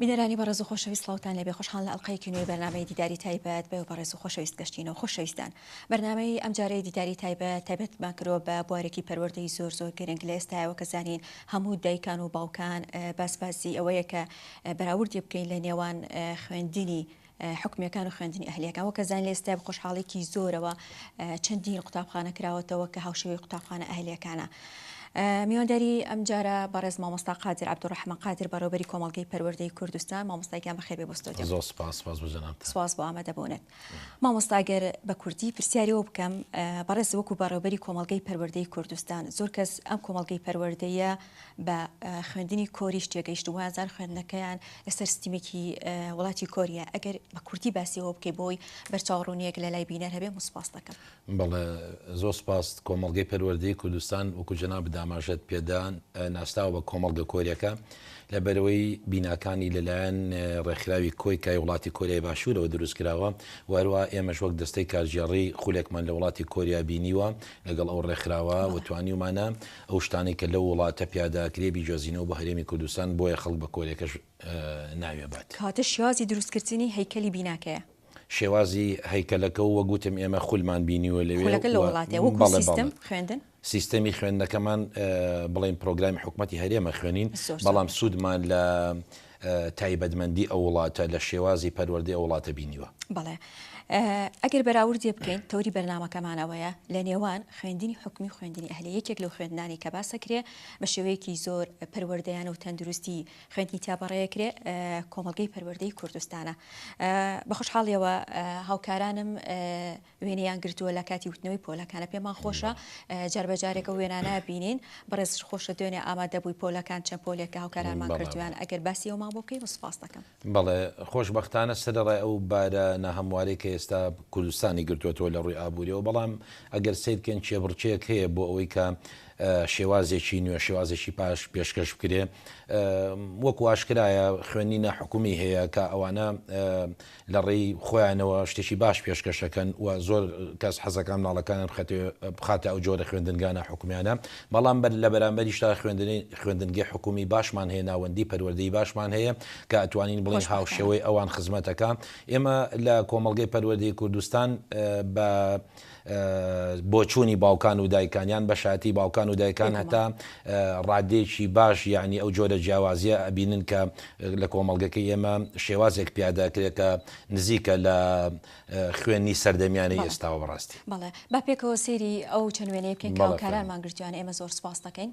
بینەرانی بەڕێز و خۆشەویست سڵاوتان لێبێ خۆشحاڵ لە ئەڵقەیەکی نوێی بەرنامەی دیداری تایبەت بەێ بەڕێز و خۆشەویست گەشتینەوە خۆشەویستان بەرنمەی ئەم جارەی دیداری تایبەت تایبەتمان کرۆ بە بوارێکی پەروەردەی زۆر زۆر گرنگ لە ئێستایەوە کە زانین هەموو دایکان و باوکان باسبازی ئەوەیە کە بەراوردی بکەین لە نێوان خوێندنی حکومیەکان و خوێندنی ئەهلیەکان وەک ئەزانین لە ئێستای بە خۆشحاڵێکی زۆرەوە چەندین قوتابخانە کراوەتەوە کە هاوشێوەی قوتابخانە ئەهلیەکانە میوانداری ئەم جارە بەڕێز مامۆستا قادر عبدڕحمە قادر بەڕێوبەری کۆمەلگەی پەروەردەی کوردستان مامۆستایکان بەخێر بێ بستۆ زۆر سپاس سپاس بۆ جەنابت سپاس بۆ ئامادە بوونت مامۆستاگەر بە کوردی پرسیاریەوە بکەم بەڕێز وەکو بەڕێوبەری کۆمەلگەی پەروەردەی کوردستان زۆر کەس ئەم کۆمەلگەی پەروەردەیە بە خوێندنی کۆریش تێگەیشتن وایە زار خوێندنەکەیان لەسەر ستیمێکی وڵاتی کۆریە ئەگەر بە کورتی باسیەوە بکەی بۆی بەرچاوڕونیەک لە لای بینەر هەبێ مسپاس دەکەم بەڵێ زۆر سپاس کۆمەلگەی پەروەردەی کوردستان وکو جەناب داماژەت پێدان ناسراوە بە کۆمەڵگە کۆریەکە لە بەرەوەی بیناکانی لەلایەن ڕێکخراوی کۆی کای وڵاتی کۆریای باشوورەوە دروست کراوە وەروە ئێمەش وەک دەستەی کارگێڕی خولێکمان لە وڵاتی کۆریا بینیوە لەگەڵ ئەو ڕێکخراوە وتوانیومانە ئەو شتانەی کە لەو وڵاتە پیاداکرێ بیجۆزینەوە بۆ هەرێمی کوردستان بۆیە خەڵک بە کۆرێکەش ناوی ئەبات. کاتە شێوازی دروستکردنی هەیکەلی بیناکەیە. شێوازی هەیکەلەکە و وەک وتم ئێمە خولمان بینیوە لەوێ و بەڵێ بەڵێ سیستەمی خوێندنەکەمان بڵێین پرۆگرامی حکومەتی هەرێمە خوێنین بەڵام سوودمان لە تایبەتمەندی ئەو وڵاتە لە شێوازی پەروەردەی ئەو وڵاتە بینیوە؟ بەڵێ. ئەگەر بەراوردێ بکەین، تەوری بەرنامەکەمان ئەوەیە، لە نێوان خوێندنی حکومی و خوێندنی ئەهلی، یەکێک لەو خوێندنانەی کە باس ئەکرێ، بە شێوەیەکی زۆر پەروەردەیانە و تەندروستی خوێندنی تیا بەڕێ ئەکرێ، کۆمەڵگەی پەروەردەی کوردستانە. بە خۆشحاڵییەوە هاوکارانم، وێنەیان گرتووە لە کاتی وتنەوەی پۆلەکانە پێمان خۆشە جار بە جارێک ئەو وێنانە بینین بەڕێز خۆشە دوێنێ ئامادە بووی پۆلەکان چەند پۆلێک کە هاوکارانمان کردویان ئەگەر باسی ئەومان بۆ بکەی سوپاست دەکەم. بەڵێ خۆشبەختانە سەرەڕای ئەو بارە ناهەموارەی کە ئێستا کوردستانی گرتووەتەوە لە ڕووی ئابووریەوە بەڵام ئەگەر سەیر بکەین کێبڕکێیەک هەیە بۆ ئەوەی کە شێوازێکی نوێ شێوازێکی پاش پێشکەش بکرێ وەکو ئاشکرایە خوێندنی ناحکومی هەیە کە ئەوانە لە ڕێی خۆیانەوە شتێکی باش پێشکەش ئەکەن و زۆر کەس حەزەکا مناڵەکانیان بخەتێ بخاتە ئەو جۆرە خوێندنگانە حکومیانە بەڵام بەر لە بەرامبەریشدا خوێندنی خوێندنگەی حکومی باشمان هەیە ناوەندی پەروەردەی باشمان هەیە کە ئەتوانین بڵێین هاوشێوەی ئەوان خزمەتەکا ئێمە لە کۆمەڵگەی پەروەردەی کوردستان بە بۆچوونی باوکان و دایکان یان بەشایەتی باوکان و دایکان هەتا ڕاددەیەکی باش یانی ئەو جۆرە جیاوازیە ئەبینن کە لە کۆمەڵگەکەی ئێمە شێوازێک پیادا کرێ کە نزیکە لە خوێنی سەردەمیانەی ئێستاوە بەڕاستی. بەڵێ با پێکەوە سەیری ئەو چەند وێنەیە بکەین کە هاوکارانمان گرتوویانە ئێمە زۆر سوپاس دەکەین.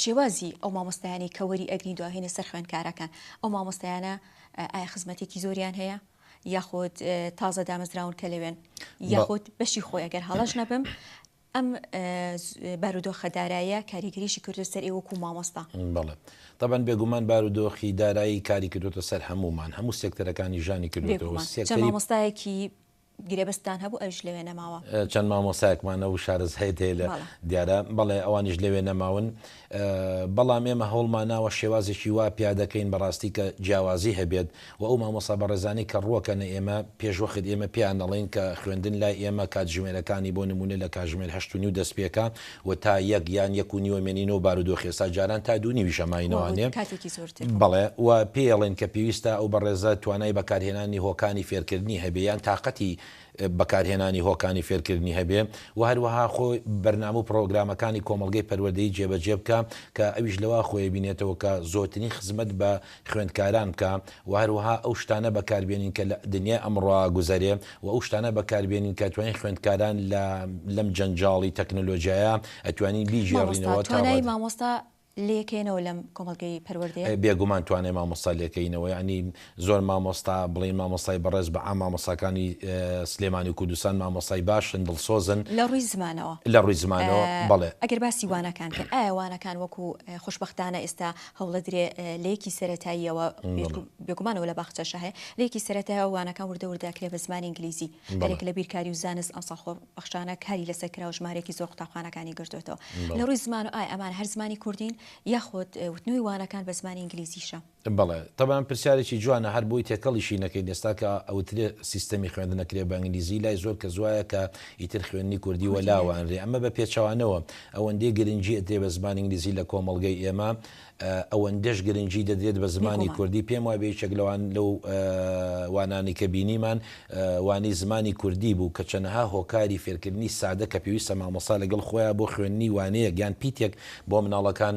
شێوازی ئەو مامۆستایانەی کە وەری ئەگرین دواهێنە سەر خوێندکارەکان ئەو مامۆستایانە ئایا خزمەتێکی زۆریان هەیە یاخود تازە دامەزراون کە لەوێن یاخود بەشی خۆی ئەگەر هەڵەش نەبم ئەم بارودۆخە دارایە کاریگەریشی کردو سەر ئێوەکو مامۆستا بەڵێ طبعا بێگومان بارودۆخی دارایی کاری کردوتە سەر هەمومان هەموو سێکتەرەکانی ژانی کردوەوە مامۆستایەکی گرێبەستتان هەبوو ئەویش لەوێ نەماوە. چەند مامۆستایەکمان هەبوو شارەز هەید هەیە لە بەڵێ. دیارە، بەڵێ ئەوانیش لەوێ نەماون. بەڵام ئێمە هەوڵمان ناوە شێوازێکی وا پیادەکەین بەڕاستی کە جیاوازی هەبێت و ئەو مامۆستا بەڕێزانەی کە ڕووەکەنە ئێمە پێشوەخت ئێمە پێیان دەڵێین کە خوێندن لای ئێمە کاتژمێرەکانی بۆ نموونە لە کاتژمێر هەشت و نیو دەست پێکا و تا یەک یان یەک و نیوە مێنینەوە بارودۆخی ئێستا جاران تا دوو نیویشە ماینەوانێ بەڵێ و پێڵێن کە پێویستە ئەو بەڕێزە توانای بەکارهێنانی هۆکانی فێرکردنی هەبێ یان تاقەتی بەکارهێنانی هۆکانی فێرکردنی هەبێ و هەروەها خۆ بەرنامە و پڕۆگرامەکانی کۆمەڵگەی پەروەردەی جێبەجێ بکە کە ئەویش لەوە خۆی بینێتەوە کە زۆترین خزمەت بە خوێندکاران بکا و هەروەها ئەو شتانە بەکاربێنین کە لە دنیای ئەمڕۆ گوزەرێ و ئەو شتانە بەکاربێنین کە توانین خوێندکاران لە لەم جەنجاڵی تەکنەلۆجیایە ئەتوانین مامۆستا بیگێڕینەوە تا توانای ڕادە مامۆستا لێکەینەوە لەم کۆمەڵگەی پەروەردەیە؟ بێگومان توانای مامۆستا لێکەینەوە یانی زۆر مامۆستا بڵێین مامۆستای بەڕێز بە عام مامۆستاکانی سلێمانی و کوردستان مامۆستای باشن دڵسۆزن لە ڕووی زمانەوە لە ڕووی زمانەوە بەڵێ. ئەگەر باسی وانەکان کەن ئایا وانەکان وەکو خوشبەختانە ئێستا هەوڵەدرێ لەیەکی سەرەتاییەوە بێگومانەوە لە باخچەشە هەیە لەیەکی سەرەتایە وانەکان وردە وردەکرێ بە زمانی ئینگلیزی بەێک لە بیرکاری و زانست ئەمساڵ خۆ بەخشانە کاری لەسەر کرا و ژمارێکی زۆر قوتابخانەکانی گرتوێتەوە لە ڕووی زمان و ئای ئەمان هەر زمانی کوردین یاخۆت وتنوی وانەکان بە زمانی ئینگلیزیشە بەڵێ تەبان پرسیارێکی جوانە هەر بۆی تێکەڵیشی نەکەین ئێستا کە ئەوترێ سیستەمی خوێندنەکرێ بە ئینگلیزی لای زۆر کەس وایە کە ئیتر خوێندنی کوردی وەلاوانرێ ئەمە بە پێچەوانەوە ئەوەندەی گرنگی ئەدرێت بە زمانی ئینگلیزی لە کۆمەڵگەی ئێمە ئەوەندەش گرنگی دەدرێت بە زمانی کوردی پێم وابێ یەکێک لەوان لەو وانانەی کە بینیمان وانەی زمانی کوردی بوو کە چەنەها هۆکاری فێرکردنی سادە کە پێویستە مامۆستا لەگەڵ خۆیان بۆ خوێندنی وانەیەک یان پیتێک بۆ مناڵەکان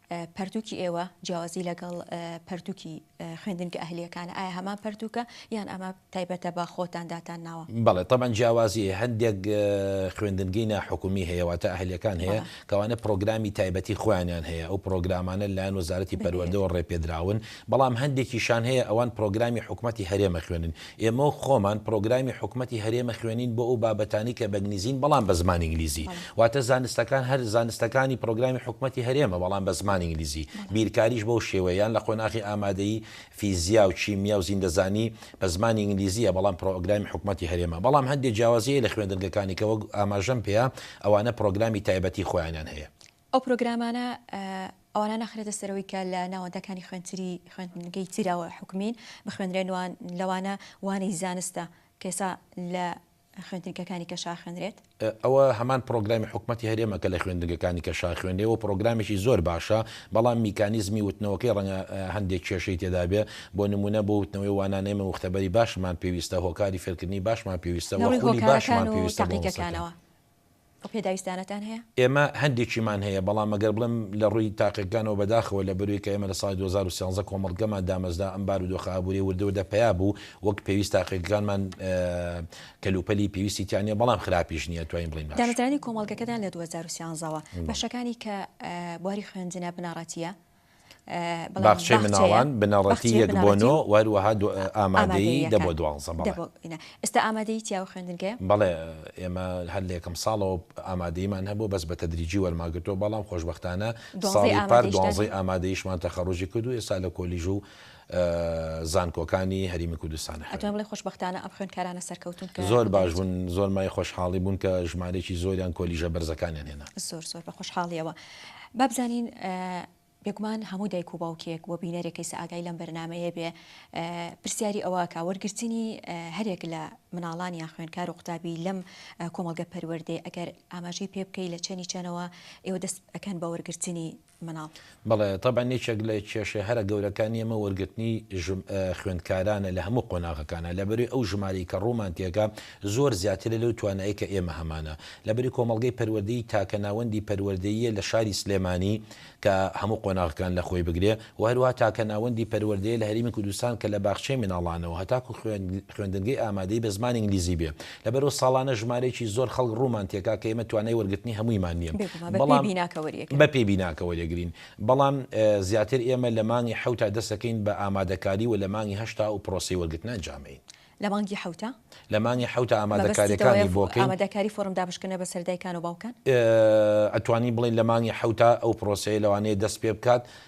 پەرتووکی ئێوە جیاوازی لەگەڵ پەرتووکی خوێندنگە ئەهلییەکانە، ئایا هەمان پەرتووکە یان ئەمە تایبەتە بە خۆتان داتان ناوە؟ بەڵێ تەبعەن جیاوازی هەیە، هەندێک خوێندنگەی ناحکومی هەیە واتە ئەهلییەکان هەیە کە ئەوانە پرۆگرامی تایبەتی خۆیانیان هەیە، ئەو پرۆگرامانە لەلایەن وەزارەتی پەروەردەوە ڕێپێدراون، بەڵام هەندێکیشان هەیە ئەوان پرۆگرامی حکومەتی هەرێمە خوێنن. ئێمە وەک خۆمان پرۆگرامی حکومەتی هەرێمە خوێنین بۆ ئەو بابەتانەی کە بەگنیزین بەڵام بە زمانی ئینگلیزی واتە زانستەکان هەر زانستەکانی پرۆگرامی حکومەتی هەرێمە بەڵام بە زمانی ئینگلیزی بیرکاریش بەو شێوەیە یان لە قۆناخی ئامادەیی فیزیا و کیمیا و زیندەزانی بە زمانی ئینگلیزیە بەڵام پرۆگرامی حکومەتی هەرێمە بەڵام هەندێ جیاوازی هەیە لە خوێندنگەکانی کە وەک ئاماژەم پێیا ئەوانە پرۆگرامی تایبەتی خۆیانیان هەیە. ئەو پرۆگرامانە ئەوانە ناخرێتە سەرەوەی کە لە ناوەندەکانی خوێندتری خوێندنگەی ترە حکومین بخوێنرێن وان لەوانە وانەی زانستە کە ئێسا لە خوێندنگەکانی کەشا خوێنرێت؟ ئەوە هەمان پرۆگرامی حکومەتی هەرێمە کە لە خوێندنگەکانی کەشا خوێنرێ و پرۆگرامێکی زۆر باشە بەڵام میکانیزمی وتنەوەکەی ڕەنگە هەندێک کێشەی تێدا بێ بۆ نموونە بۆ وتنەوەی وانانەی مەوختەبەری باشمان پێویستە هۆکاری فێرکردنی باشمان پێویستە وە خولی باشمان پێویستە بۆ مەسەکە. ئەو پێداویستانەتان هەیە؟ ئێمە هەندێکیمان هەیە، بەڵام ئەگەر بڵێم لە ڕووی تاقیگەکانەوە بەداخەوە لە بەرووی کە ئێمە لە ساڵی دوو هەزار و سیانزە کۆمەڵگەمان دامەزرا ئەم بارودۆخە ئابووریە وردە وردە پەیا بوو وەک پێویست تاقیگەکانمان کەلوپەلی پێویستی تیا نیە بەڵام خراپیش نیە توانین بڵێین باشە. دامەزرانی کۆمەڵگەکەتان لە دوو هەزار و سیانزە وە بەشەکانی کە بواری خوێندنە بنەڕەتیە باخچەی مناڵان بنەڕەتی یەک بۆ نۆ و هەروەها ئامادەیی دە بۆ دوانزە بەڵێ ئێستا ئامادەیی چیا و خوێندنگەیە؟ بەڵێ ئێمە هەر لە یەکەم ساڵەوە ئامادەییمان هەبوو بەس بە تەدریجی وەرمانگرتووە بەڵام خۆشبەختانە ساڵی پار دوانزەی ئامادەییشمان تەخەڕووجی کرد و ئێستا لە کۆلیژ و زانکۆکانی هەریمی کوردستان ئەخوێنن. ئەتوانی بڵێی خۆشبەختانە ئەم خوێندکارانە سەرکەوتوون کە. زۆر باش بوون زۆر مایەی خۆشحاڵی بوون کە ژمارەیەکی زۆریان کۆلیژە بەرزەکانیان هێنا. زۆر زۆر بە خۆشحاڵیەوە با بزانین بێگومان هەموو دایک و باوکێک و بینەرێک کەیسە ئاگای لەم بەرنامەیە بێ پرسیاری ئەوە کە وەرگرتنی هەرێک لە مناڵان یان خوێنکار و قوتابی لەم کۆمەڵگە پەروەردەی ئەگەر ئاماژەی پێ بکەی لە چەنی چەنەوە ئێوە دەست ئەکەن بە وەرگرتنی مناڵ. بەڵێ تەبعەن یەکێک لە کێشە هەرە گەورەکانی ئێمە وەرگرتنی خوێندکارانە لە هەموو قۆناغەکانا لەبەروی ئەو ژمارەی کە ڕوومان تێکا زۆر زیاترە لەو توانایی کە ئێمە هەمانە لەبەری کۆمەڵگەی پەروەردەی تاکە ناوەندی پەروەردەییە لە شاری سلێمانی کە هەموو قۆناغەکان لە خۆی بگرێ و هەروەها تاکە ناوەندی پەروەردەیە لە هەرێمی کوردستان کە لە باخچەی مناڵانەوە هەتاکو خوێندنگەی ئامادەی بە زمانی ئینگلیزی بێ لەبەرئەوە ساڵانە ژمارەیەکی زۆر خەڵک ڕوومان تێکا کە ئێمە توانای وەرگرتنی هەموویمان نییە، بەڵام بەپێی بیناکە وەریەگرین، بەڵام زیاتر ئێمە لە مانگی حەوتا دەستەکەین بە ئامادەکاری و لە مانگی هەشتا ئەو پرۆسەی وەرگرتنە ئەنجامەین. لە مانگی حەوتا؟ لە مانگی حەوتا ئامادەکاریەکانی بۆ کەین. ئامادەکاری فۆرم دابشکردنە بەسەر دایکان و باوکان؟ ئەتوانین بڵێین لە مانگی حەوتا ئەو پرۆسەیە لەوانەیە دەست پێ بکات،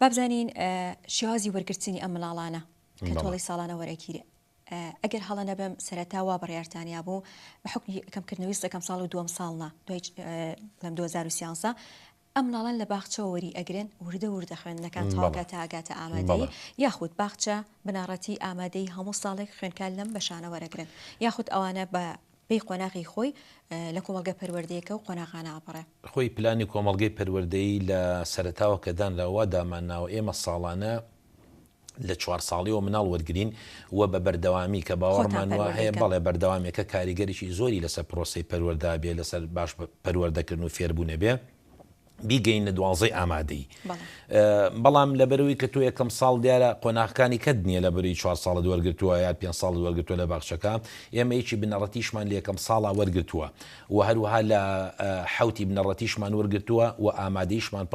با بزانین شێوازی وەرگرتنی ئەم منداڵانە کە تۆڵەی ساڵانە وەرەگیرێ ئەگەر هەڵە نەبم سەرەتا وا بڕیارتانیا بوو بە حکومی کەمکردنەوەی سەکەم ساڵ و دووەم ساڵنا دوای لەم 2013 ئەم ناڵان لە باخچەوە وەری ئەگرن وردە وردە خوێندنەکان تاواکە تاگاتە ئامادەی یاخود باخچە بناڕەتی ئامادەی هەموو ساڵێک خوێنکار لەم بەشانە وەرەگرن یاخود ئەوانە بە پێی قۆناغی خۆی لە کۆمەڵگە پەروەردەیەکە و قۆناغانە ئەپەڕێ. خۆی پلانی کۆمەڵگەی پەروەردەی لە سەرەتاوە کە دانراوە وا دامان ناوە ئێمە ساڵانە لە چوار ساڵیەوە مناڵ وەرگرین و بە بەردەوامی کە باوەڕمان وا هەیە بەڵێ بەردەوامێکە کاریگەریی زۆری لەسەر پرۆسەی پەروەردە بێ لەسەر باش پەروەردەکردن و فێربوونە بێ. بیگەینە دوازدەی ئامادەیی بەڵام لەبەرەوەی کە تۆ یەکەم ساڵ دیارە قۆناغکانی کەت نییە لە بەری چوار ساڵت وەرگتووە یا پێ ساڵ وەرگتووە لە باخچەکە ئێمە یەکی بنەڕەتیشمان لە یەکەم ساڵا وەرگتووە و هەروها لە حوتی بنەڕەتیشمان وەرگتووە و ئامادەیشمان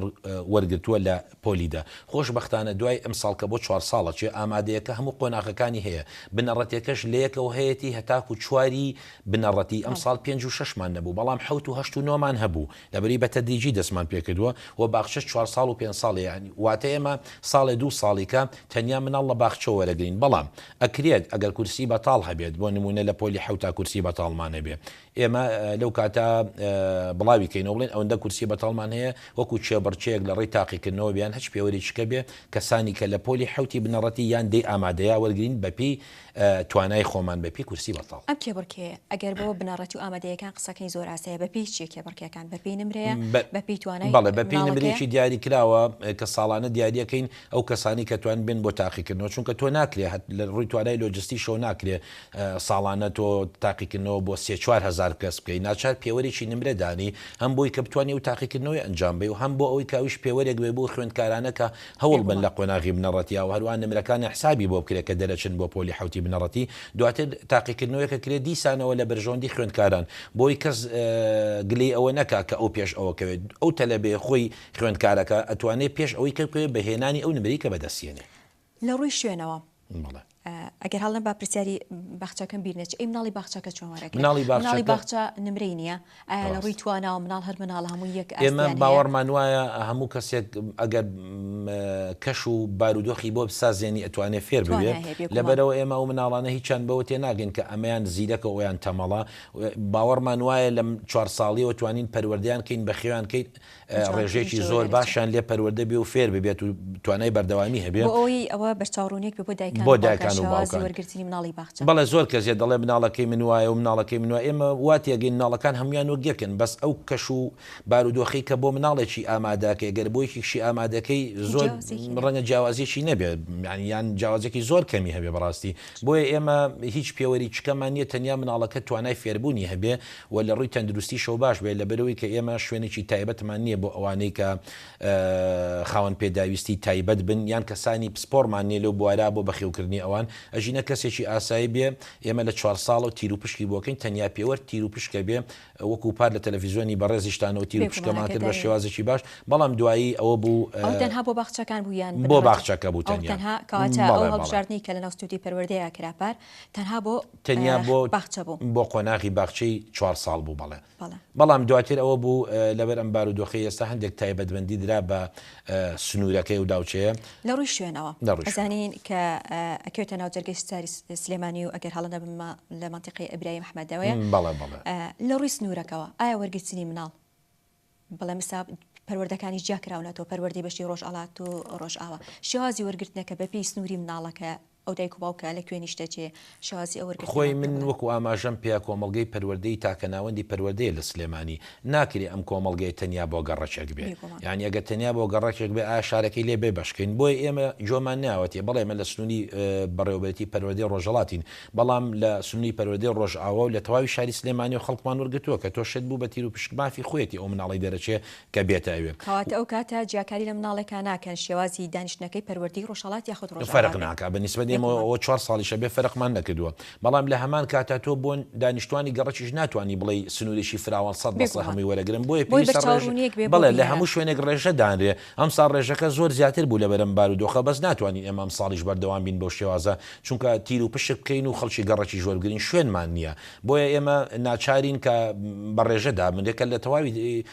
وەرگتووە لە پۆلیدا خۆشببختانە دوای ئەم ساڵ کە بۆ چوار ساڵە چێ ئامادەیەکە هەموو قۆناغەکانی هەیە بنەڕەتەکەش لە یەکەوە هەیەی هەتاکو چواری بنەڕەتی ئەم ساڵ پێنج و ششمان نەبوو بەڵام حوت و هەشت و نۆمان هەبوو لەبری بە تەدریجی دەستمان پێکردووە و باخچەش چوار ساڵ و پێنج ساڵ یانی واتە ئێمە ساڵێ دوو ساڵیکە تەنیا مناڵ لە باخچە وەرەگرین بەڵام ئەکرێت ئەگەر کورسی بەتاڵ هەبێت بۆ نموونە لە پۆلی حەوتا کورسی بەتاڵمان هەبێ ئێمە لەو کاتە بڵاوی کەینەوە بڵێن ئەوەندە کورسی بەتاڵمان هەیە وەکو کێبڕکێیەک لە ڕێی تاقیکردنەوە بیان هەچ پێوەرێکیکە بێ کەسانی کە لە پۆلی حەوتی بنەڕەتی یان دەی ئامادەیە وەرگرین بە پێی توانای خۆمان بە پێی کورسی بەتاڵ. ئەم کێبڕکێیە ئەگەر بەوە بنەڕەتی و ئامادەییەکان قسەکەی زۆر ئاسایە بە پێی چیە کێبڕکێکان بە پێی نمرەیە بە پێی توانای ماڵەکەیە؟ بەڵێ بە پێی نمرەیەکی دیاری کراوە کە ساڵانە دیاریەکەین ئەو کەسانی کە توان بێن بۆ تاقیکردنەوە چونکە تۆ ناکرێ هەت لە ڕووی توانای لۆجستی شەو ناکرێ ساڵانە تۆ تاقیکردنەوە بۆ سێ چوار هەزار کەس بکەی ناچار پێوەرێکی نمرە دانی هەم بۆی کە بتوانانی و تاقیکردنەوەی ئەنجام بی و هەم بۆ ئەوەی کاویش پێوەرێک بێ بۆ خوێندکارانە کە هەوڵ بەن لە قۆناغی بنەڕەتیا و هەروەها نمرەکانیان حسابی بۆ بکرێت کە دەرەچن بۆ پۆلی حەوتی بنەڕەتی دواتر تاقیکردنەوەیەکە کرێت دیسانەوە لە بەرژەوەندی خوێندکاران بۆی کەس گلەی ئەوە نەکا کە ئەو پێش ئەوە کەوێت ئەو تەلەبەیە خۆی خوێندکارەکە ئەتوانێت پێش ئەوەی کەوێت بە هێنانی ئەو نمرەی کە بەدەستیەنێ. لە ڕووی شوێنەوە بەڵێ. ئەگەر هەڵە با پرسیاری باخچەکەم بیر نەچێ ئەی مناڵی باخچەکە چۆن وەرەگرێ مناڵی باخچەکە مناڵی باخچە نمرەی نییە ئایا لە ڕووی تواناوە مناڵ هەر مناڵ هەموو یەک ئێمە باوەڕمان وایە هەموو کەسێک ئەگەر کەش و بارودۆخی بۆ بسازێنی ئەتوانێت فێر بێت لەبەرەوە ئێمە ئەو مناڵانە هیچیان بەوە تێ ناگەن کە ئەمەیان زیرەکە ئەویان تەمەڵە باوەڕمان وایە لەم چوار ساڵیەوە توانین پەروەردەیان کەین بەخێوان کەیت ڕێژەیەکی زۆر باشیان لێ پەروەردە بێ و فێر ببێت و توانای بەردەوامی هەبێ بۆ ئەوەی ئەوە بە چاوڕوونێک بێ بۆ دایکان بۆ دایکان و باوکان شێوازی وەرگرتنی مناڵی باخچە. بەڵێ زۆر کەس هەیە دەڵێ مناڵەکەی من وایە و مناڵەکەی من وایە ئێمە وا تێگەین مناڵەکان هەموویان وەک یەکن بەس ئەو کەش و بارودۆخەی کە بۆ مناڵێکی ئامادە ئەکەی گەر بۆ یەکێکشی ئامادە ئەکەی زۆر ڕەنگە جیاوازیەکی نەبێ یانی یان جیاوازێکی زۆر کەمی هەبێ بەڕاستی بۆیە ئێمە هیچ پێوەریکیکەمان نیە تەنیا مناڵەکە توانای فێربوونی هەبێ و لە ڕووی تەندروستیشەوە باش بێت، لەبەرئەوەی کە ئێمە شوێنێکی تایبەتمان نییە بۆ ئەوانەی کە خاوەن پێداویستی تایبەت بن یان کەسانی پسپۆڕمان نییە لەو بوارە بۆ بەخێوکردنی ئەوان ئەژینە کەسێکی ئاسایی بێ ئێمە لە چوار ساڵەوە تیروپشکی بۆکەین تەنیا پێوەر تیروپشکە بێ وەکو پار لە تەلەفیزۆنی بەڕێزیشتانەوە تیروپشکەمان کرد بە شێوازێکی باش بەڵام دوایی ئەوە بوو ئەو تەنها بۆ باخچەکان بوو یان بۆ باخچەکە بوو تەنیا ئەو تەنها کەواتە ئەو هەڵبژاردنەی کە لەناو ستوودیۆی پەروەردەیە کرا پار تەنها بۆ تەنیا بۆ باخچە بوو بۆ قۆناغی باخچەی چوار ساڵ بوو بەڵێ بەڵام دواتر ئەوە بوو لەبەر ئەم بارو دۆخی ئێستا هەندێک تایبەتمەندی درا بە سنوورەکەی و داوچەیە لە ڕووی شوێنەوە دەڕزانین کە ئەکەوێتە ناو جەرگەی ستاری سلێمانی و ئەگەر هەڵە نەبمە لە منتیقی ئەبراهیم حمەدەوەیە بەڵێ بەڵێ لە ڕووی سنوورەکەەوە ئایا وەرگرتنی مناڵ بەڵام ئێستا پەروەردەکانیش جیا کراونەتەوە، پەروەردەی بەشی ڕۆژهەڵات و ڕۆژئاوا. شێوازی وەرگرتنەکە بە پێی سنووری مناڵەکە، ئەو دایک و باوکە لە کوێ نیشتەجێیە، شێوازی ئەو وەرگرتنە خۆی من پێوەڵێن. وەکو ئاماژەم پێ کۆمەڵگەی پەروەردەی تاکە ناوەندی پەروەردەیە لە سلێمانی، ناکرێ ئەم کۆمەڵگەیە تەنیا بۆ گەڕەکێک بێ، بێگوومان. یانی ئەگەر تەنیا بۆ گەڕەکێک بێ ئایا شارەکەی لێ بێ بەش کەین؟ بۆیە ئێمە جۆمان نایەوەتێ بڵێ ئێمە لە سنووری بەڕێوەبەرێتی پەروەردەی ڕۆژهەڵاتین، بەڵام لە سنوری پەروەردەی ڕۆژئاوا و لە تەواوی شاری سلێمانی و خەڵکمان وەرگرتووە کە تۆ شێت بوو بە تیر و پشک مافی خۆیەتی ئەو مناڵەی دەرەچێ کە بێتە ئەوێ. کەواتە ئەو کاتە جیاکاری لە مناڵێکا ناکەن شێوازی دانیشتنەکەی پەروەردەی ڕۆژهەڵات یاخود ڕۆژئاوا بێت. فەرق ناکا بە نیسبەت ئێمە و ئەوە چوار ساڵیش ئەبێ فەرقمان نەکردووە. بەڵام لە هەمان کاتا تۆ بۆ دانیشتوانی گەڕەکیش ناتوانی بڵێی سنورێکی فراوان سەد بە سەد هەمووی وەرەگرن بۆیە پێویستە ڕێژە بەڵێ لە هەموو شوێنێک ڕێژە دانرێ ئەمساڵ ڕێژەکە زۆر زیاتر بوو لەبەرم بارودۆخە بەس ناتوانین ئێمە ئەمساڵیش بەردەوام بین بەو شێوازە چونکە تیر و پشک بکەین و خەڵکی گەڕەکیش وەربگرین شوێنمان نییە بۆیە ئێمە ناچارین کە بە ڕێژە دابن یەکە لە تەواوی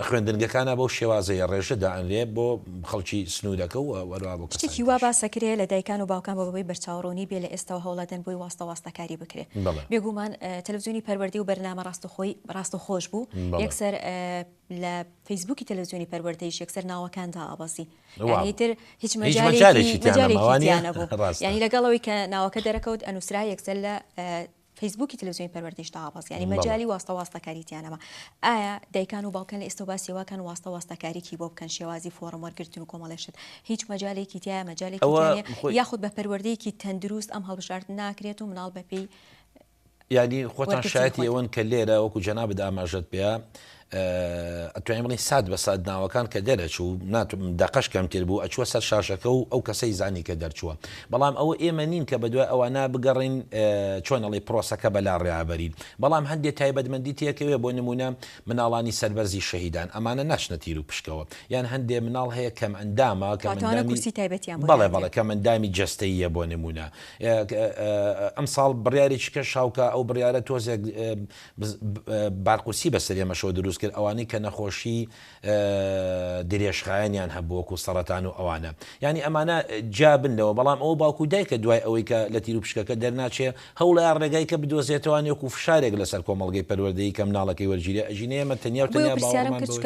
خوێندنگەکانا بەو شێوازەیە ڕێژە دائەنرێ بۆ خەڵکی سنوورەکە و هەروەها بۆ کەسانی شتێکی وا تریش. باسە کرێ لە دایکان و باوکان بۆ بەوەی بەرچاو ڕوونی بێ لە ئێستەوە هەوڵەدەن بۆی واستە واستە کاری بکرێ بەڵێ. بێگوومان تەلەفزیونی پەروەردەی و بەرنامە ڕاستەخۆی ڕاستەخۆش بوو بەڵێ. یەکسەر لە فەیسبووکی تەلەفزیۆنی پەروەردەیش یەکسەر ناوەکان دائەبەزی یانی ئیتر هیچ مەجالێکی تیانە نەبوو یانی لەگەڵ ئەوەی کە ناوەکە دەرەکەوت ئەنووسرا یەکسەر لە فەیسبووکی تەلەفزیۆنی پەروەردەیش دائەبەزی یانی مەجالی واستە واستەکاری تیانەما ئایا دایکان و باوکان لە ئێستە باسی واکەن واستە واستەکاریی بۆ بکەن شێوازی فۆڕم وەرگرتن و کۆمەڵێشت هیچ مەجالێکی تیا مەجالێکی یاخود بە پەروەردەیەکی تەندروست ئەم هەڵبژاردن ناکرێت و مناڵ بەپێی یانی خۆتان شایەتی ئەوەن کە لێرە وەکو جەنابت ئاماژەت پێ ئەتوانین بڵین سات بە سات ناوەکان کە دەرەچوو ناتم دەقەش کەمتر بوو ئەچووە سەر شاشەکە و ئەو کەسەی زانی کە دەرچووە بەڵام ئەوە ئێمە نین کە بە دوای ئەوانە بگەڕین چۆنەڵی پرۆسەکە بەلا ڕێابەرین بەڵام هەندێک تایبەتمەندی تێکەوێ بۆ نمونە مناڵانی سەربەرزی شەهیددان ئەمانە ناشنە تیر و پشکەوە یان هەندێ مناڵ هەیە کەم ئەندامە کە تایبەتیان بەڵێ بەڵەکە مندامی جستەیە بۆ نمونە ئەمساڵ بڕیارێکی کەش هاوکا ئەو بڕیارە تۆزێک بارقورسی بەسەر ئێمەشەوە دروست کرد ئەوانەی کە نەخۆشی درێژخایەنیان هەبوو وەکو سەڕەتان و ئەوانە یانی ئەمانە جیابن لەوە بەڵام ئەو باوکو دایکە دوای ئەوەی کە لە تیروپشکەکە دەرناچێ هەوڵەیە ڕێگای کە بدۆزێتەوە نێوکو فشارێک لەسەر کۆمەڵگەی پەروەردەیی کە مناڵەکەی وەرگیرێ ئەژینێ ئێمە تەنیا و تەنیا باوەڕمان بەوەیە.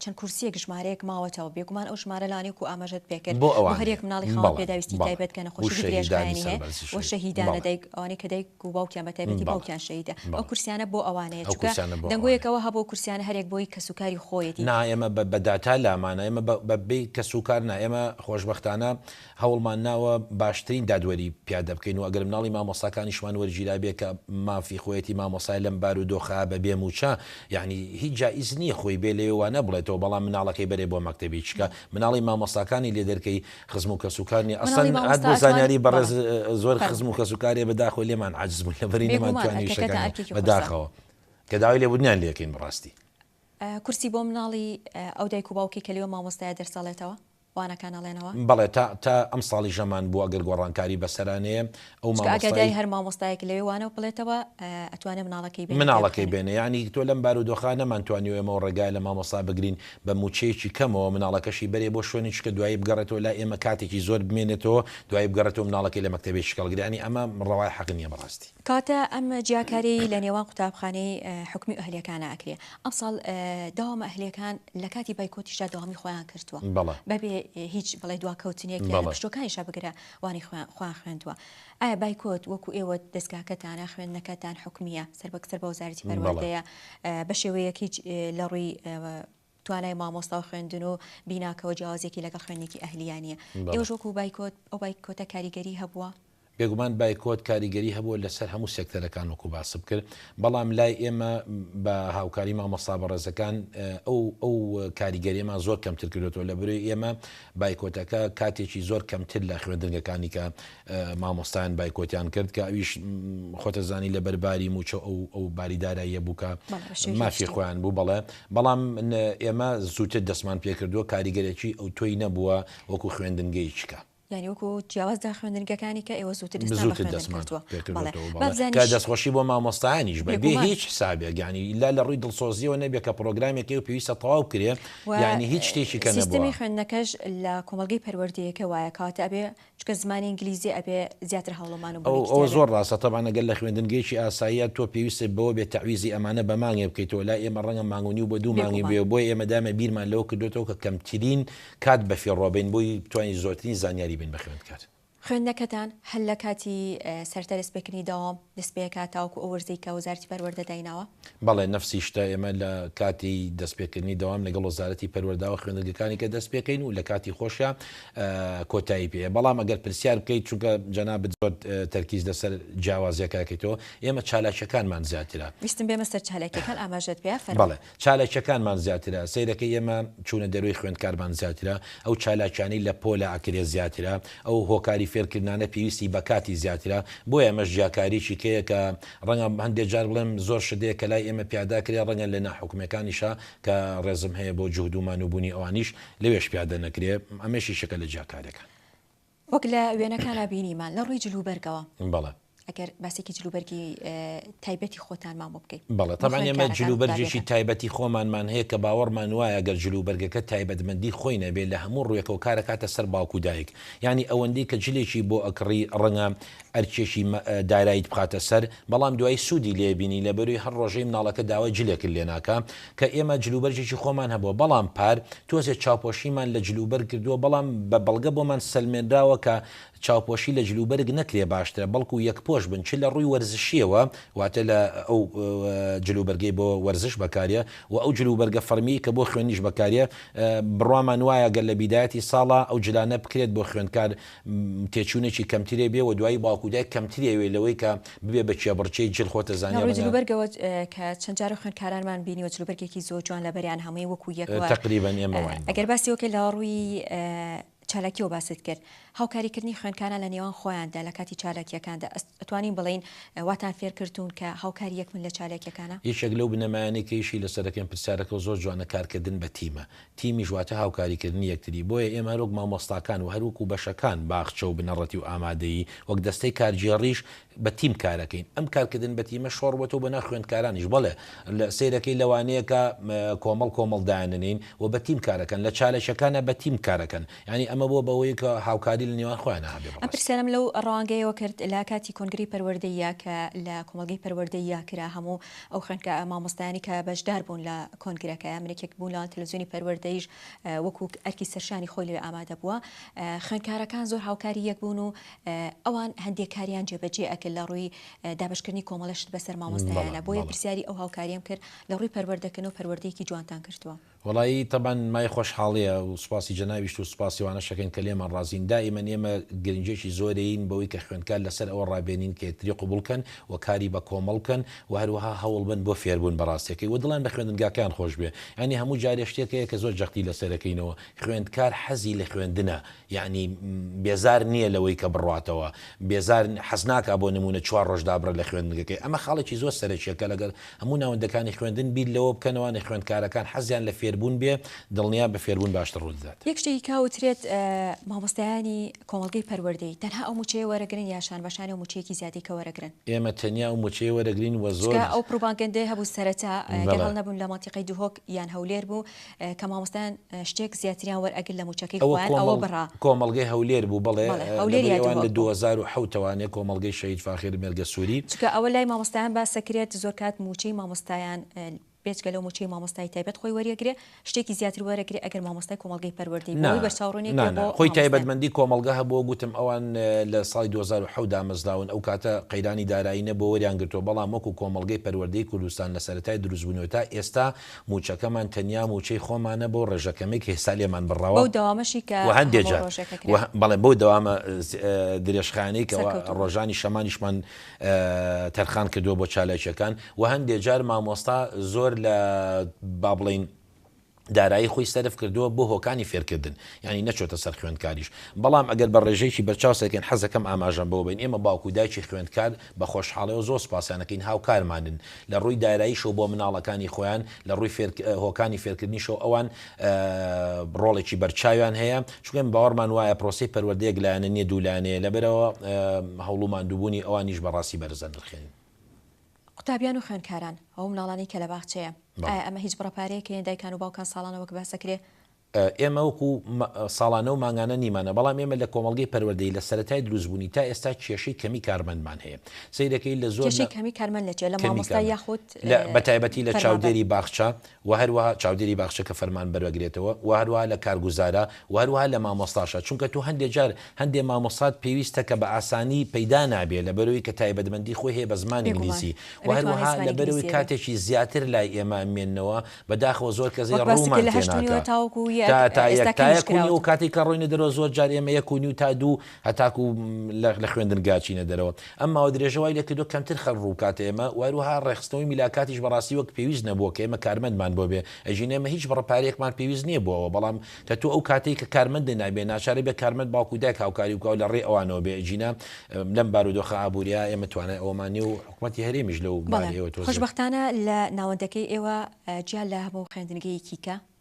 چەند کورسیەک ژمارەیەک ماوەتەوە بێگومان ئەو ژمارە لانەی کو ئاماژەت پێکرد بۆ ئەوانەیە بۆ هەریەک مناڵی خاوەن بەڵێ پێداویستی بەڵێ تایبەت کە بۆ نەخۆشیی شەهیدانی درێژخایەنی هەیە سەربەرزی و شەهید شەهیدانە بەڵێ دایک ئەوانەی کە دایک و باوکیان بە تایبەتی بەڵێ باوکیان شەهیدە ئەو بەڵێ کورسیانە بۆ ئەوانەیە ئەو چونکە کورسیانە بۆ دەنگۆیەک ئەوانەیە. ئەوە هەبوو کورسیانە هەریەک بۆی کەسوکاری خۆیەتی. نا ئێمە بە بە داتا لامانە ئێمە بە بە بەی کەسوکار نا ئێمە خۆشبەختانە هەوڵمان ناوە باشترین دادوەری پیادە بکەین و ئەگەر مناڵی مامۆستاکانیشمان وەرگیرابێ کە مافی خۆیەتی مامۆستایە لەم بار و دۆخە بە بێ مووچە یەعنی هیچ جائیز نییە خۆی بێ لەوێ وانە بڵێتەوە بەڵام مناڵەکەی بەرێ بۆ مەکتەبی چکە مناڵی مامۆستاکانی لێ دەرکەی خزم و کەس و کار نییە ئەسڵەن هات بۆ زانیاری بەڕێز زۆر خزم و کەس و کارێ بە داخۆ لێمان عاجز بوون لە بەری نەمان توانی شتەکانی بە داخەوە کە داوای لێ بوونیان لێکەین بڕاستی. کورسی بۆ مناڵی ئەو دایک و باوکەی کە لەوێ مامۆستایە دەرسەڵێتەوە؟ وانەکان ئەڵێنەوە؟ بەڵێ تا تا ئەمساڵی ژەمان بوو ئەگەر گۆڕانکاری بەسەرانەیە ئەو مامۆستای. چونکە ئەگەر دای هەر مامۆستایەک لەوێ وانە بڵێتەوە ئەتوانێ مناڵەکەی بێنێ مناڵەکەی بێنێ یانی تۆ لەم بارودۆخە نەمانتوانی ئێمەوە ڕێگای لە مامۆستا بگرین بە مووچەیەکی کەمەوە مناڵەکەشی بەرێ بۆ شوێنی چکە دوایی بگەڕێتەوە لای ئێمە کاتێکی زۆر بمێنێتەوە دوایی بگەڕێتەوە مناڵەکەی لە مەکتەبێکی کەڵگری یانی ئەمە ڕەوای حەق نیە بەڕاستی. کاتە ئەم جیاکاریەی لە نێوان قوتابخانەی حکومی و ئەهلیەکانا ئەکرێ ئەمساڵ داوامە ئەهلیەکان لە کاتی بایکۆتیشدا داوامی خۆیان کردوە بەبێ هیچ بڵێ دواکەوتنێک یان پشتوەکانیشا بگرە وانی خۆیان خوێندوە ئایا بایکۆت وەکو ئێوە دەستگاکەتانە خوێندنەکەتان حکومیە سەر بەکسەر بە وەزارەتی پەروەردەیە بە شێوەیەک هیچ لە ڕووی توانای مامۆستا و خوێندن و بیناکەوە جیاوازیەکی لەگەڵ خوێندنێکی ئەهلییە نییە. ئێوەش وەکو بایکۆت، ئەو بایکۆتە کاریگەری هەبووە؟ بێگومان بایکۆت کاریگەری هەبووە لەسەر هەموو سێکتەرەکان وەکو باسم کرد، بەڵام لای ئێمە بە هاوکاری مامۆستا بەڕێزەکان ئەو ئەو کاریگەریەمان زۆر کەمتر کردۆتەوە، لەبەرەی ئێمە بایکۆتەکە کاتێکی زۆر کەمتر لە خوێندنگەکانی کە مامۆستایان بایکۆتیان کرد کە ئەویش خۆتەزانی لەبەر باری موچە ئەو ئەو باری داراییە بوو کە مافی خۆیان بوو بەڵێ بەڵام ئێمە زووتر دەستمان پێکردووە کاریگەرێکی ئەو تۆی نەبووە وەکو خوێندنگەی چکە ینی وەکو جیاواز دا خوێندنگەکانی کە ئێوە زووتر دەستخۆشی بۆ مامۆستایانیش بە بێ هیچ حسابێک گانی لا لە ڕووی دڵسۆزیەوە نەبێت کە پرۆگرامێکی و پێویستە تەواو کرێ ینی هیچ شتێکی کە نەبووی خوێندنەکەش لە کۆمەلگەی پەروەردەیەکە وایە کاتە ئەبێ چونکە زمانی ئینگلیزی ئەبێ زیاتر هەوڵەمان و بڵێی ئەوە کتێبێ. زۆر ڕاستە تەبعەن ئەگەر لە خوێندنگەیەکی ئاساییە تۆ پێویستت بەوە بێ تەعویزی ئەمانە بە مانگێ بکەیتەوە لای ئێمە ڕەنگە مانگ و نیو بۆ دوو مانگی بێگومان. بوێ بۆیە ئێمە دایمە بیرمان لەوە کردۆتەوە کە کەمترین کات بە فیڕۆ بین بۆی بتوانین زۆرترین زانیاری بین بە خوێندکار. خوێندنەکەتان هەر لە کاتی سەرەتای دەست پێکردنی دەوام دەست پێ ئەکات تاوەکو ئەو وەرزەی کە وەزارەتی پەروەردە دایناوە؟ بەڵێ نەفسی شتە ئێمە لە کاتی دەست پێکردنی دەوام لەگەڵ وەزارەتی پەروەرداو خوێندنگەکانی کە دەست پێکەین و لە کاتی خۆشیا کۆتایی پێیە بەڵام ئەگەر پرسیار بکەیت چونکە جەنابت زۆر تەرکیز لەسەر جیاوازیەکەکەیتەوە ئێمە چالاکیەکانمان زیاترە ویستم بێمە سەر چالاکیەکان ئاماژەت پێ فەرموو. چالاکیەکانمان زیاترە سەیرەکەی ئێمە چوونە دەروەی خوێندکارمان زیاترە ئەو چالاکیانەی لە پۆلە ئەکرێ زیاترە ئەو هۆکاری فێرکردنانە پێویستی بە کاتی زیاترە بۆیە ئەمەش جیاکاریەکی کەیە کە ڕەنگە هەندێ جار بڵێم زۆر شت هەیە کە لای ئێمە پیادا کرێ ڕەنگە لە ناحوکمەکانیشا کە ڕێزم هەیە بۆ جوهد و مان و بوونی ئەوانیش لەوێش پیادە نەکرێ ئەمەیش یشێکە لە جیاکاریەکان. وەک لە وێنەکانا بینیمان لە ڕووی جل و بەرگەوە. بەڵێ. ئەگەر باسێکی جل و بەرگی تایبەتی خۆتانمان بۆ بکەی. بەڵێ تەبعەن ئێمە جل و بەرگێکی تایبەتی خۆمانمان هەیە کە باوەڕمان وایە گەر جل و بەرگەکە تایبەت مەندی خۆی نەبێ لە هەموو ڕووێکەوە کار ئەکاتە سەر باوک و دایک یانی ئەوەندەی کە جلێکی بۆ ئەکڕی ڕەنگە ئەرکێکی دارایت بخاتە سەر بەڵام دوایی سودی لێ بینی لەبەروی هەر ڕۆژەی مناڵەکە داوای جلێکت لێ ناکا کە ئێمە جلوبەرگێکی خۆمان هەبوە بەڵام پار تۆزێ چاوپۆشیمان لە جلوبەرگ کردوە بەڵام بە بەڵگە بۆمان سەلمێنراوە کە چاوپۆشی لە جلوبەرگ نەکرێ باشترە بەڵکو یەکپۆش بن چ لە ڕوی وەرزشیەوە واتە لە ئەو جلوبەرگەی بۆ وەرزش بەکاریە وە ئەو جلوبەرگە فەرمیەی کە بۆ خوێنیش بەکاریە بڕوامان وایە گەر لە بیدایەتی ساڵا ئەو جلانە بکرێت بۆ خوێندکار تێچوونێکی کەمتری هەبێ و دوایی باوک و دایک کەمتری ئەوێ لەوەی کە ببێ بە کێبڕکێی جل خۆتە زانیە لەڕووی منە. جلوبەرگەوە کە چەند جارە خوێندکارانمان بینیوە جلوبەرگێکی زۆر جوان لەبەریان هەمووی وەکو یەک وە تەقریبەن ئێمە واین بەڵێ. ئەگەر باسی ئەوکەین لەڕووی چالاکیەوە باست کرد هاوکاری کردنی خوێندکاران لە نێوان خۆیاندا لە کاتی چالاکیەکاندا ئەتوانین بڵێین واتان فێر کردوون کە هاوکاری یەکبن لە چالاکیەکانا؟ یەکێک لەو بنەمایانەی کە ئیشی لەسەر ئەکەین پرسیارەکەو زۆر جوانە کارکردن بە تیمە تیمیش واتە هاوکاریکردنی یەکتری، بۆیە ئێمە هەروەک مامۆستاکان و هەروەکو بەشەکان، باخچە و بنەڕەتی و ئامادەیی، وەک دەستەی کارگێڕیش بە تیم کارەکەین. ئەم کارکردن بە تیمە شۆڕبۆتەوە بۆ ناو خوێندکارانیش، بەڵێ سەیرەکەی لەوانەیە کە کۆمەڵ کۆمەڵ دایاننێین و بە تیم کارەکەن، لە چالشەکانا بە تیم کارەکەن، یانی ئەمە بووە بەوەی کە هاوکاری لە نێوان خۆیانا هەبێ. ئەم پرسیارەم لەو ڕەوانگەیەوە کرد، لە کاتی کۆنگرەی پەروەردەییا کە لە کۆمەڵگەی پەروەردەییا کرا، هەموو ئەو خوێندکا مامۆستایانی کە بەشداربوون لە کۆنگرەکە، یامنێکێک بوون لەوان تەلەفزیۆنی پەروەردەیش وەکو ئەرکی سەرشانی خۆی لەوێ ئامادە بووە. خوێندکارەکان زۆر هاوکاری یەک بوون و ئەوان هەندێک کاریان جێبەجێ ئەکرد لە ڕووی دابەشکردنی کۆمەڵە شت بەسەر مامۆستایانە، بۆیە پرسیاری ئەو هاوکاریەم کرد لە ڕووی پەروەردەکردنەوە پەروەردەیەکی جوانتان کردووە. وەڵایی تەبعەن مای خۆشحاڵیە و سوپاسی جەنابیشت و سوپاسی ئەوانەش ئەکەین کە لێمان ڕازین، دائیمەن ئێمە گرنگیەکی زۆرەیین بەوەی کە خوێندکار لەسەر ئەوە ڕابێنین کە یەکتری قبوڵ کەن و کاری بە کۆمەڵ بکەن، و هەروەها هەوڵبن بۆ فێربوون بە ڕاستەکەی و دڵیان بە خوێندنگاکەیان خۆش بێ یانی هەموو جارێ شتێک هەیە کە زۆر جەختی لەسەرەکەینەوە خوێندکار حەزی لە خوێندنە یانی بێزار نییە لەوەی کە بڕاتەوە بێزار حەزناکا بۆ نموونە چوار ڕۆژ دابڕێ لە خوێندنگەکەی ئەمە خاڵێکی زۆر سەرەکیە کە لەگەڵ هەموو ناوەندەکانی خوێندن بیر لەوە بکەنەوە نە خوێندکارەکان حەزیان لە فێربوون بێ دڵنیا بە فێربوون باشتر ڕوودەدات. یەک شتێکی کا وترێت مامۆستایانی. کۆمەڵگەی پەروەردەیی، تەنها ئەو مووچەیە وەرەگرن یا شان بە شانێ و مووچەیەکی زیادی کە وەرەگرن؟ ئێمە تەنیا ئەو مووچەیە وەرەگرین و زۆر. چونکە ئەو پڕوبانگەندەیە هەبوو سەرەتا گەر بەڵێ. هەڵنەبم لە مەنتیقەی دهۆک یان هەولێر بوو کە مامۆستایان شتێک زیاتریان وەرئەگر لە مووچەکەی ئەوە خۆیان ئەوە کۆمەڵ بڕا. کۆمەڵگەی هەولێر بوو بەڵێ بەڵێ هەولێر لەبری یا ئەوان لە دهۆک دوو بوو. هەزار و حەوت ەوە نێ کۆمەڵگەی شەهید فاخیر مێرگەسووری. چونکە ئەوە لای مامۆستایان باسەکرێت زۆر کات مووچەی مامۆستایان. بێجگە لەو موچەی مامۆستای تایبەت خۆی وەریەگرێ شتێکی زیاتر وەرەگرێ ئەگەر مامۆستای کۆمەڵگەی پەروەردەی بۆ ئەوەی بەرچاو ڕونێک بێ بۆ خۆی تایبەتمەندی کۆمەڵگە هەبووە گوتم ئەوان لە ساڵی دوو هەزار و حەوت دامەزراون ئەو کاتە قەیرانی دارایی نەبووە وەریان گرتووە بەڵام وەکو کۆمەڵگەی پەروەردەی کوردستان لە سەرەتای دروست بونیوە تا ئێستا موچەکەمان تەنیا موچەی خۆمانە بەو ڕێژە کەمەی کە ئێستا لێمان بڕاوە بەو دەوامەشی کە وە هەندێ جار بەڵێ بەو دەوامە درێژخایەنەی کە ڕۆژانی شەمانیشمان تەرخان کردووە بۆ چالاکییەکان و هەندێک جار مامۆستا زۆر لە با بڵێین دارایی خۆی سەرف کردووە بۆ هۆکانی فێرکردن یانی نەچۆتە سەر خوێندکاریش بەڵام ئەگەر بە ڕێژەیەکی بەرچاو سەیرکەین حەزەکەم ئاماژەم بەوە بەین ئێمە باوک و دایکی خوێندکار بە خۆشحاڵیەوە زۆر سوپاسیانەکەین هاوکارمانن لە ڕووی داراییشەوە بۆ مناڵەکانی خۆیان لە ڕووی هۆکانی فێرکردنیشەوە ئەوان ڕۆڵێکی بەرچاویان هەیە، چونکە باوەڕمان وایە پرۆسەی پەروەردە یەک لایەنە نییە دوو لایەنەیە، لەبەرئەوە هەوڵ و ماندووبوونی ئەوانیش بە ڕاستی بەرز دەنرخێنین. قوتابیان و خوێندکاران، ئەو منداڵانەی کە لە باخچەیە، ئایا ئەمە هیچ بڕە پارەیەک هەیە دایکان و باوکان ساڵانە وەک باس دەکرێ؟ ئێمە وەکو ساڵانە و مانگانە نیمانە، بەڵام ئێمە لە کۆمەڵگەی پەروەردەیی لە سەرەتای دروستبوونی تا ئێستا کێشەی کەمی کارمەندمان هەیە، سەیرەکەی لە زۆر کێشەی کەمی کارمەند لە کوێ؟ لە مامۆستا یاخود؟ بەتایبەتی لە چاودێری باخچە، وە هەروەها چاودێری باخچە کە فەرمان بەرەگرێتەوە وە هەروەها لە کارگوزارە وە هەروەها لە مامۆستاشە چونکە تۆ هەندێ جار هەندێ مامۆستات پێویستە کە بە ئاسانی پەیدا نابێ لەبەرەوەی کە تایبەتمەندی خۆی هەیە بە زمانی بێگومان ئینگلیزی وە ئەبێ توانای هەروەها زمانی لەبەرەوەی ئینگلیزی هەبێ. کاتێکی زیاتر لای ئێمە مێنەوە بەداخەوە زۆر کەس وەک باست کرد ڕوومان لە هەشت و نیوە تێناکا تاوەکو یەک تا تا ئێستا یەک یەک تا یەک و نیو کاتێکیش کراوە. کاتێک کە ڕۆینە دەرەوە زۆر جار ئێمە یەک و نیو تا دوو هەتاکو لە خوێندنگا چینە دەرەوە. ئەم ماوە درێژە وای لێ کردووە کەمتر خەڵک ڕوو بکاتە ئێمە و هەروەها ڕێکخستنەوەی میلاکاتیش بەڕاستی وەک پێویست نەبووە کە ئێمە کارمەندمان بۆ بێ، ئەژین ئێمە هیچ بڕە پارەیەکمان پێویست نییە بۆ ئەوە، بەڵام کە تۆ ئەو کاتەی کە کارمەندت نابێ ناچار ئەبێ کارمەند باوک و دایک هاوکاری بکا و لە ڕێی ئەوانەوە بێ، ئەژین لەم بارودۆخە ئابوورییە ئێمە توانای ئەوەمان نییە و حکومەتی هەرێمیش لەو بارەیەوە تۆزێ. خۆشبەختانە لە ناوەندەکەی ئێوە جیا لە هەموو خوێندنگەیەکی کە،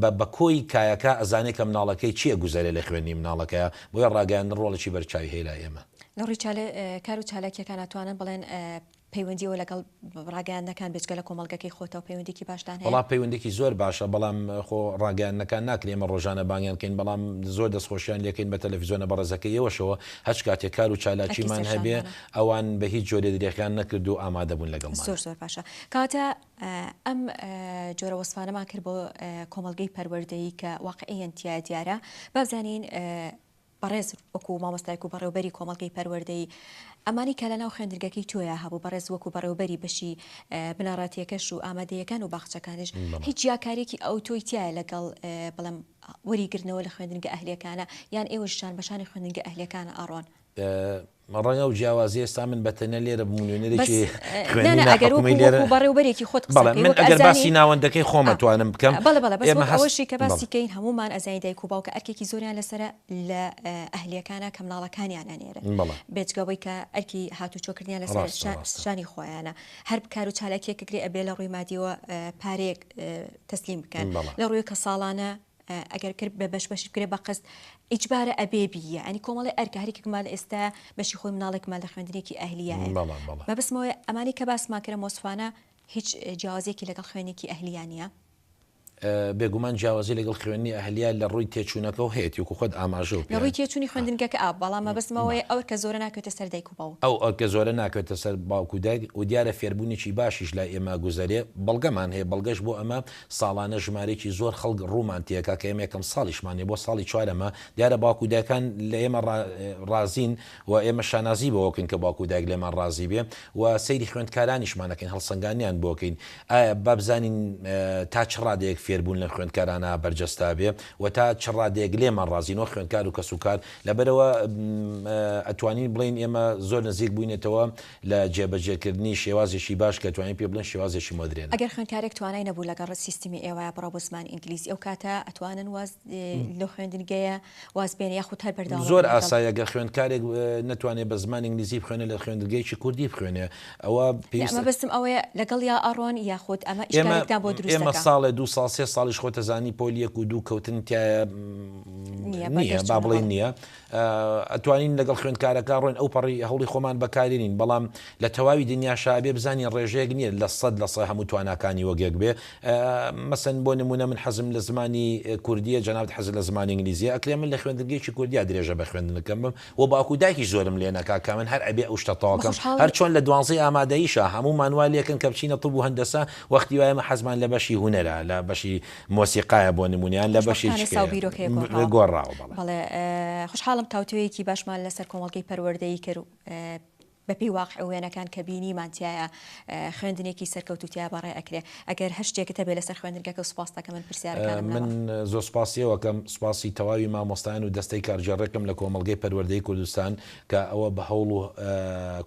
بە بە کۆی کایەکە ئەزانێ کە مناڵەکەی چی ئەگوزەرێ لە خوێندنی مناڵەکەیا بۆیە ڕاگەیاندن ڕۆڵێکی بەرچاوی هەیە لای ئێمە. لە ڕووی چالێ کار و چالاکیەکان ئەتوانن بڵێن پەیوەندیەوە لەگەڵ ڕاگەیاندنەکان بێجگە لە کۆمەڵگەکەی خۆتەوە پەیوەندیکی باشتان هەیە؟ وەڵا پەیوەندیکی زۆر باشە بەڵام خۆ ڕاگەیاندنەکان ناکرێ ئێمە ڕۆژانە بانگیان کەین بەڵام زۆر دەست خۆشیان لێکەین بە تەلەفیزۆنە بەڕێزەکەی ئێوەشەوە هەچ کاتێ کار و چالاکیمان هەبێ ئەوان بە هیچ جۆرێ درێخیان نەکردوو ئامادەبوون لەگەڵمان. زۆر زۆر باشە کاتە ئەم جۆرە وەسفانەمان کرد بۆ کۆمەڵگەی پەروەردەیی کە واقعیەن تیا دیارە با بزانین بەڕێز وەکو مامۆستایک و بەڕێوبەری کۆمەڵگەی پەروەردەی ئەمانی کە لە ناو خوێندرگەکەی تۆیا هەبوو بەڕێز وەکو بەڕێوبەری بەشی بنەڕاتیەکەش و ئامادەیەکان و باخچەکانش هیچ یاکارێکی ئەو تۆی تایە لەگەڵ بڵم وەریگرنەوە لە خوێندنگە ئەهلیەکانە یان ئێوەشان بەشانی خوێندنگە ئەهلیەکانە ئەڕۆن ڕەنگە ئەو جیاوازیە ئێستا من بە تەنیا لێرە بم و نوێنەرێکی خوێندنی ناحکومی لێرە بەس نانا ئەگەر وەکو بەڕێوەبەرێکی خۆت قسە بکەی وەک ئەزانی بەڵێ من ئەگەر باسی ناوەندەکەی خۆم ئەتوانم بکەم بەڵێ بەڵێ بەڵێ بەس وەک ئەوەشی کە باسی کەین هەموومان ئەزانی دایک و باوکە ئەرکێکی زۆریان لەسەرە لە ئەهلیەکانا کە منداڵەکانیان ئەنێرن بێجگە وەی کە ئەرکی هاتووچۆ کردنیان لەسەر شانی خۆیانە هەر بکار و چالاکیەکەکرێ ئەبێ لە ڕووی مادیەوە پارەیەک تەسلیم بکەن لە ڕووی کە ساڵانە ئەگەر کرد بە بەش بەشی بکرێ بە قست ئیجبارە ئەبێ بیە ئەنی کۆمەڵی ئەرکە هەرێکمان ئێستا بەشی خۆی مناڵێکمان لە خوێندنێکی ئەهلیە بەبسمەوەی ئەمانی کە باسمان کرە مۆسفانە هیچ جیاوازێکی لەگەڵ خوێنێکی ئەهلیانە بێگومان جیاوازی لەگەڵ خوێنی ئەهلیان لە ڕووی تێچوونەکە و هەیەتی و خۆت ئاماژە و ڕووی تێچووی خوێندنگەکە ئا بەڵام مەبستمەوەی ئەو کە زۆرە ناکەێتە سەر دایک و باو ئەو ئەکە زۆرە ناکەێتە سەر باوکو دایک و دیارە فێربوونێکی باشیش لای ئێمە گوزەرێ بەڵگەمان هەیە بەڵگەش بۆ ئەمە ساڵانە ژمارەیەکی زۆر خەڵک ڕوومان تێکا کە ئێمە یەکەم ساڵیشمان نیە، بۆ ساڵی چوارەمە، دیارە باوک و دایکان لە ئێمە ڕا ڕازین و ئێمە شانازی بەوە بکەین کە باوک و دایک لێمان ڕازی بێ و سەیری خوێندکارانیشمان ئەکەین هەڵسەنگانیان بۆ کەین ئایا با بزانین تا چ ڕادەیەک فێربوون لەم خوێندکارانە بەرجەستە بێ و تا چ ڕادەیەک لێمان ڕازین وەک خوێندکار و کەسوکار لەبەرئەوە ئەتوانین بڵێین ئێمە زۆر نزیک بووینەتەوە لە جێبەجێکردنی شێوازێکی باش کە توانین پێ بڵێین شێوازێکی مۆدرێنە. ئەگەر خوێندکارێک توانای نەبوو لەگەڵ سیستمی ئێوە بڕا بۆ زمانی ئینگلیزی ئەو کاتە ئەتوانن واز لەو خوێندنگەیە واز بێنێ یاخود هەر بەردەوام بن لەگەڵ؟ زۆر ئاسایە گەر خوێندکارێک نەتوانێ بە زمانی ئینگلیزی بخوێنێ لە خوێندنگەیەکی کوردی بخوێنێ ئەوە نە پێویستە مەبەستم ئەوەیە لەگەڵیا ئەڕۆن یاخود ئەمە ئێمە ئیشکالێکتان بۆ دروست ئێمە دەکا؟ ساڵێ دوو ساڵ سێ ساڵیش خۆتەزانی پۆل یەک و دوو کەوتن تیایە نییە با بەردەستوونە بڵێین بەڵێ. نییە. ئەتوانین لەگەڵ خوێندکارەکە ڕۆین ئەو پەڕی هەوڵی خۆمان بەکارێنین بەڵام لە تەواوی دنیاشا ئەبێ بزانین ڕێژەیەک نیە لە سەد لە سە هەموو تواناکانی وەک یەک بێ مەسەن بۆ نمونە من حەزم لە زمانی کوردیە جەنابت حەزت لە زمانی ئینگلیزیە ئەکرێ من لە خوێندنگەیەکی کوردیا درێژە بە خوێندنەکەم بم و باوکو دایکیش زۆرم لێ نەکا کە من هەر ئەبێ ئەو شتە تەواو کەم هەر چۆن لە دوانزەی ئامادەییشا هەموومان وا لێکن کە بچینە طب و هەندەسە وەختی وایە ئێمە حەزمان لە بەشی هونەرە لە بەشی مۆسیقایە بۆ نموونە یان لە بەشێکی خوشبەختانە ساو بیرۆکەیە گۆڕاوە. گۆڕاوە بەڵێ. بەڵێ خوشحاڵم تاوتوێیەکی باشمان لەسەر کۆمەڵگەی پەروەردەیی کرد و بە پێی واقع و وێنەکان کە بینیمان تیایا خوێندنێکی سەرکەوتوو تیا بەڕێ ئەکرێ ئەگەر هەر شتێکت هەبێ لەسەر خوێندنگەکە سوپاست ئەکەم من پرسیارەکانم لەوە. من زۆر سوپاسی ئێوە ئەکەم سوپاسی تەواوی مامۆستایان و دەستەی کارگێڕێکم لە کۆمەڵگەی پەروەردەیی کوردستان کە ئەوە بە هەوڵ و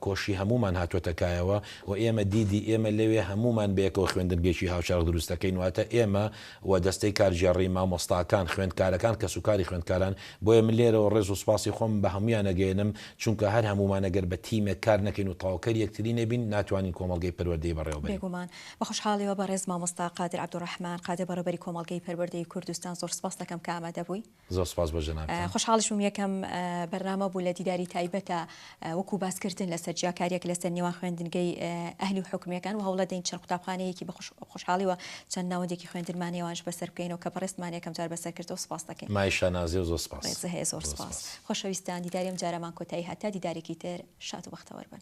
کۆشی هەموومان هاتووەتە کایەوە و ئێمە دیدی ئێمە لەوێ هەموومان بەیەکەوە خوێندنگەیەکی هاوچەرخ دروست دەکەین، واتە ئێمە و دەستەی کارگێڕی، مامۆستاکان، خوێندکارەکان، کەسوکاری خوێندکاران، بۆیە من لێرەوە ڕێز و سوپاسی خۆمم بە هەموویان ئەگەیەنم، چونکە هەر هەموومان ئەگەر بە تیمێک کار نەکەین و تەواوکەری یەکتری نەبین، ناتوانین کۆمەڵگەی پەروەردەیی بەڕێوەبەرین. بێگومان، بە خوشحاڵیەوە بەڕێز مامۆستا قادر عەبدولڕەحمان قادر بەڕێوەبەری کۆمەڵگەی پەروەردەیی کوردستان زۆر سپاست دەکەم کە ئامادەبووی، زۆر سوپاس بۆ جەنابتان. خۆشحاڵیش بووم یەکەم بەرنامە بوو لە دیداری تایبەتە وەکو باس کردن لەسەر جیاکاریەک لەسەر نێوان خوێندنگەی ئەهلی و حکومیەکان وە هەوڵە دەین چەند قوتابخانەیەکی بە خۆشحاڵیوە چەند ناوەندێکی خوێندنمان هەیە وانش بەسەر بکەینەوە کە بەڕێزتمان یەکەم جار بەسەر کردەوە سوپاس دەکەین. مایە شانازیە و زۆر سوپاس. ڕێزت هەیە زۆر سوپاس. خۆشەویستان دیداری ئەم جارەمان کۆتایی هات تا دیدارێکی تر شاد و بەختەوەر بن.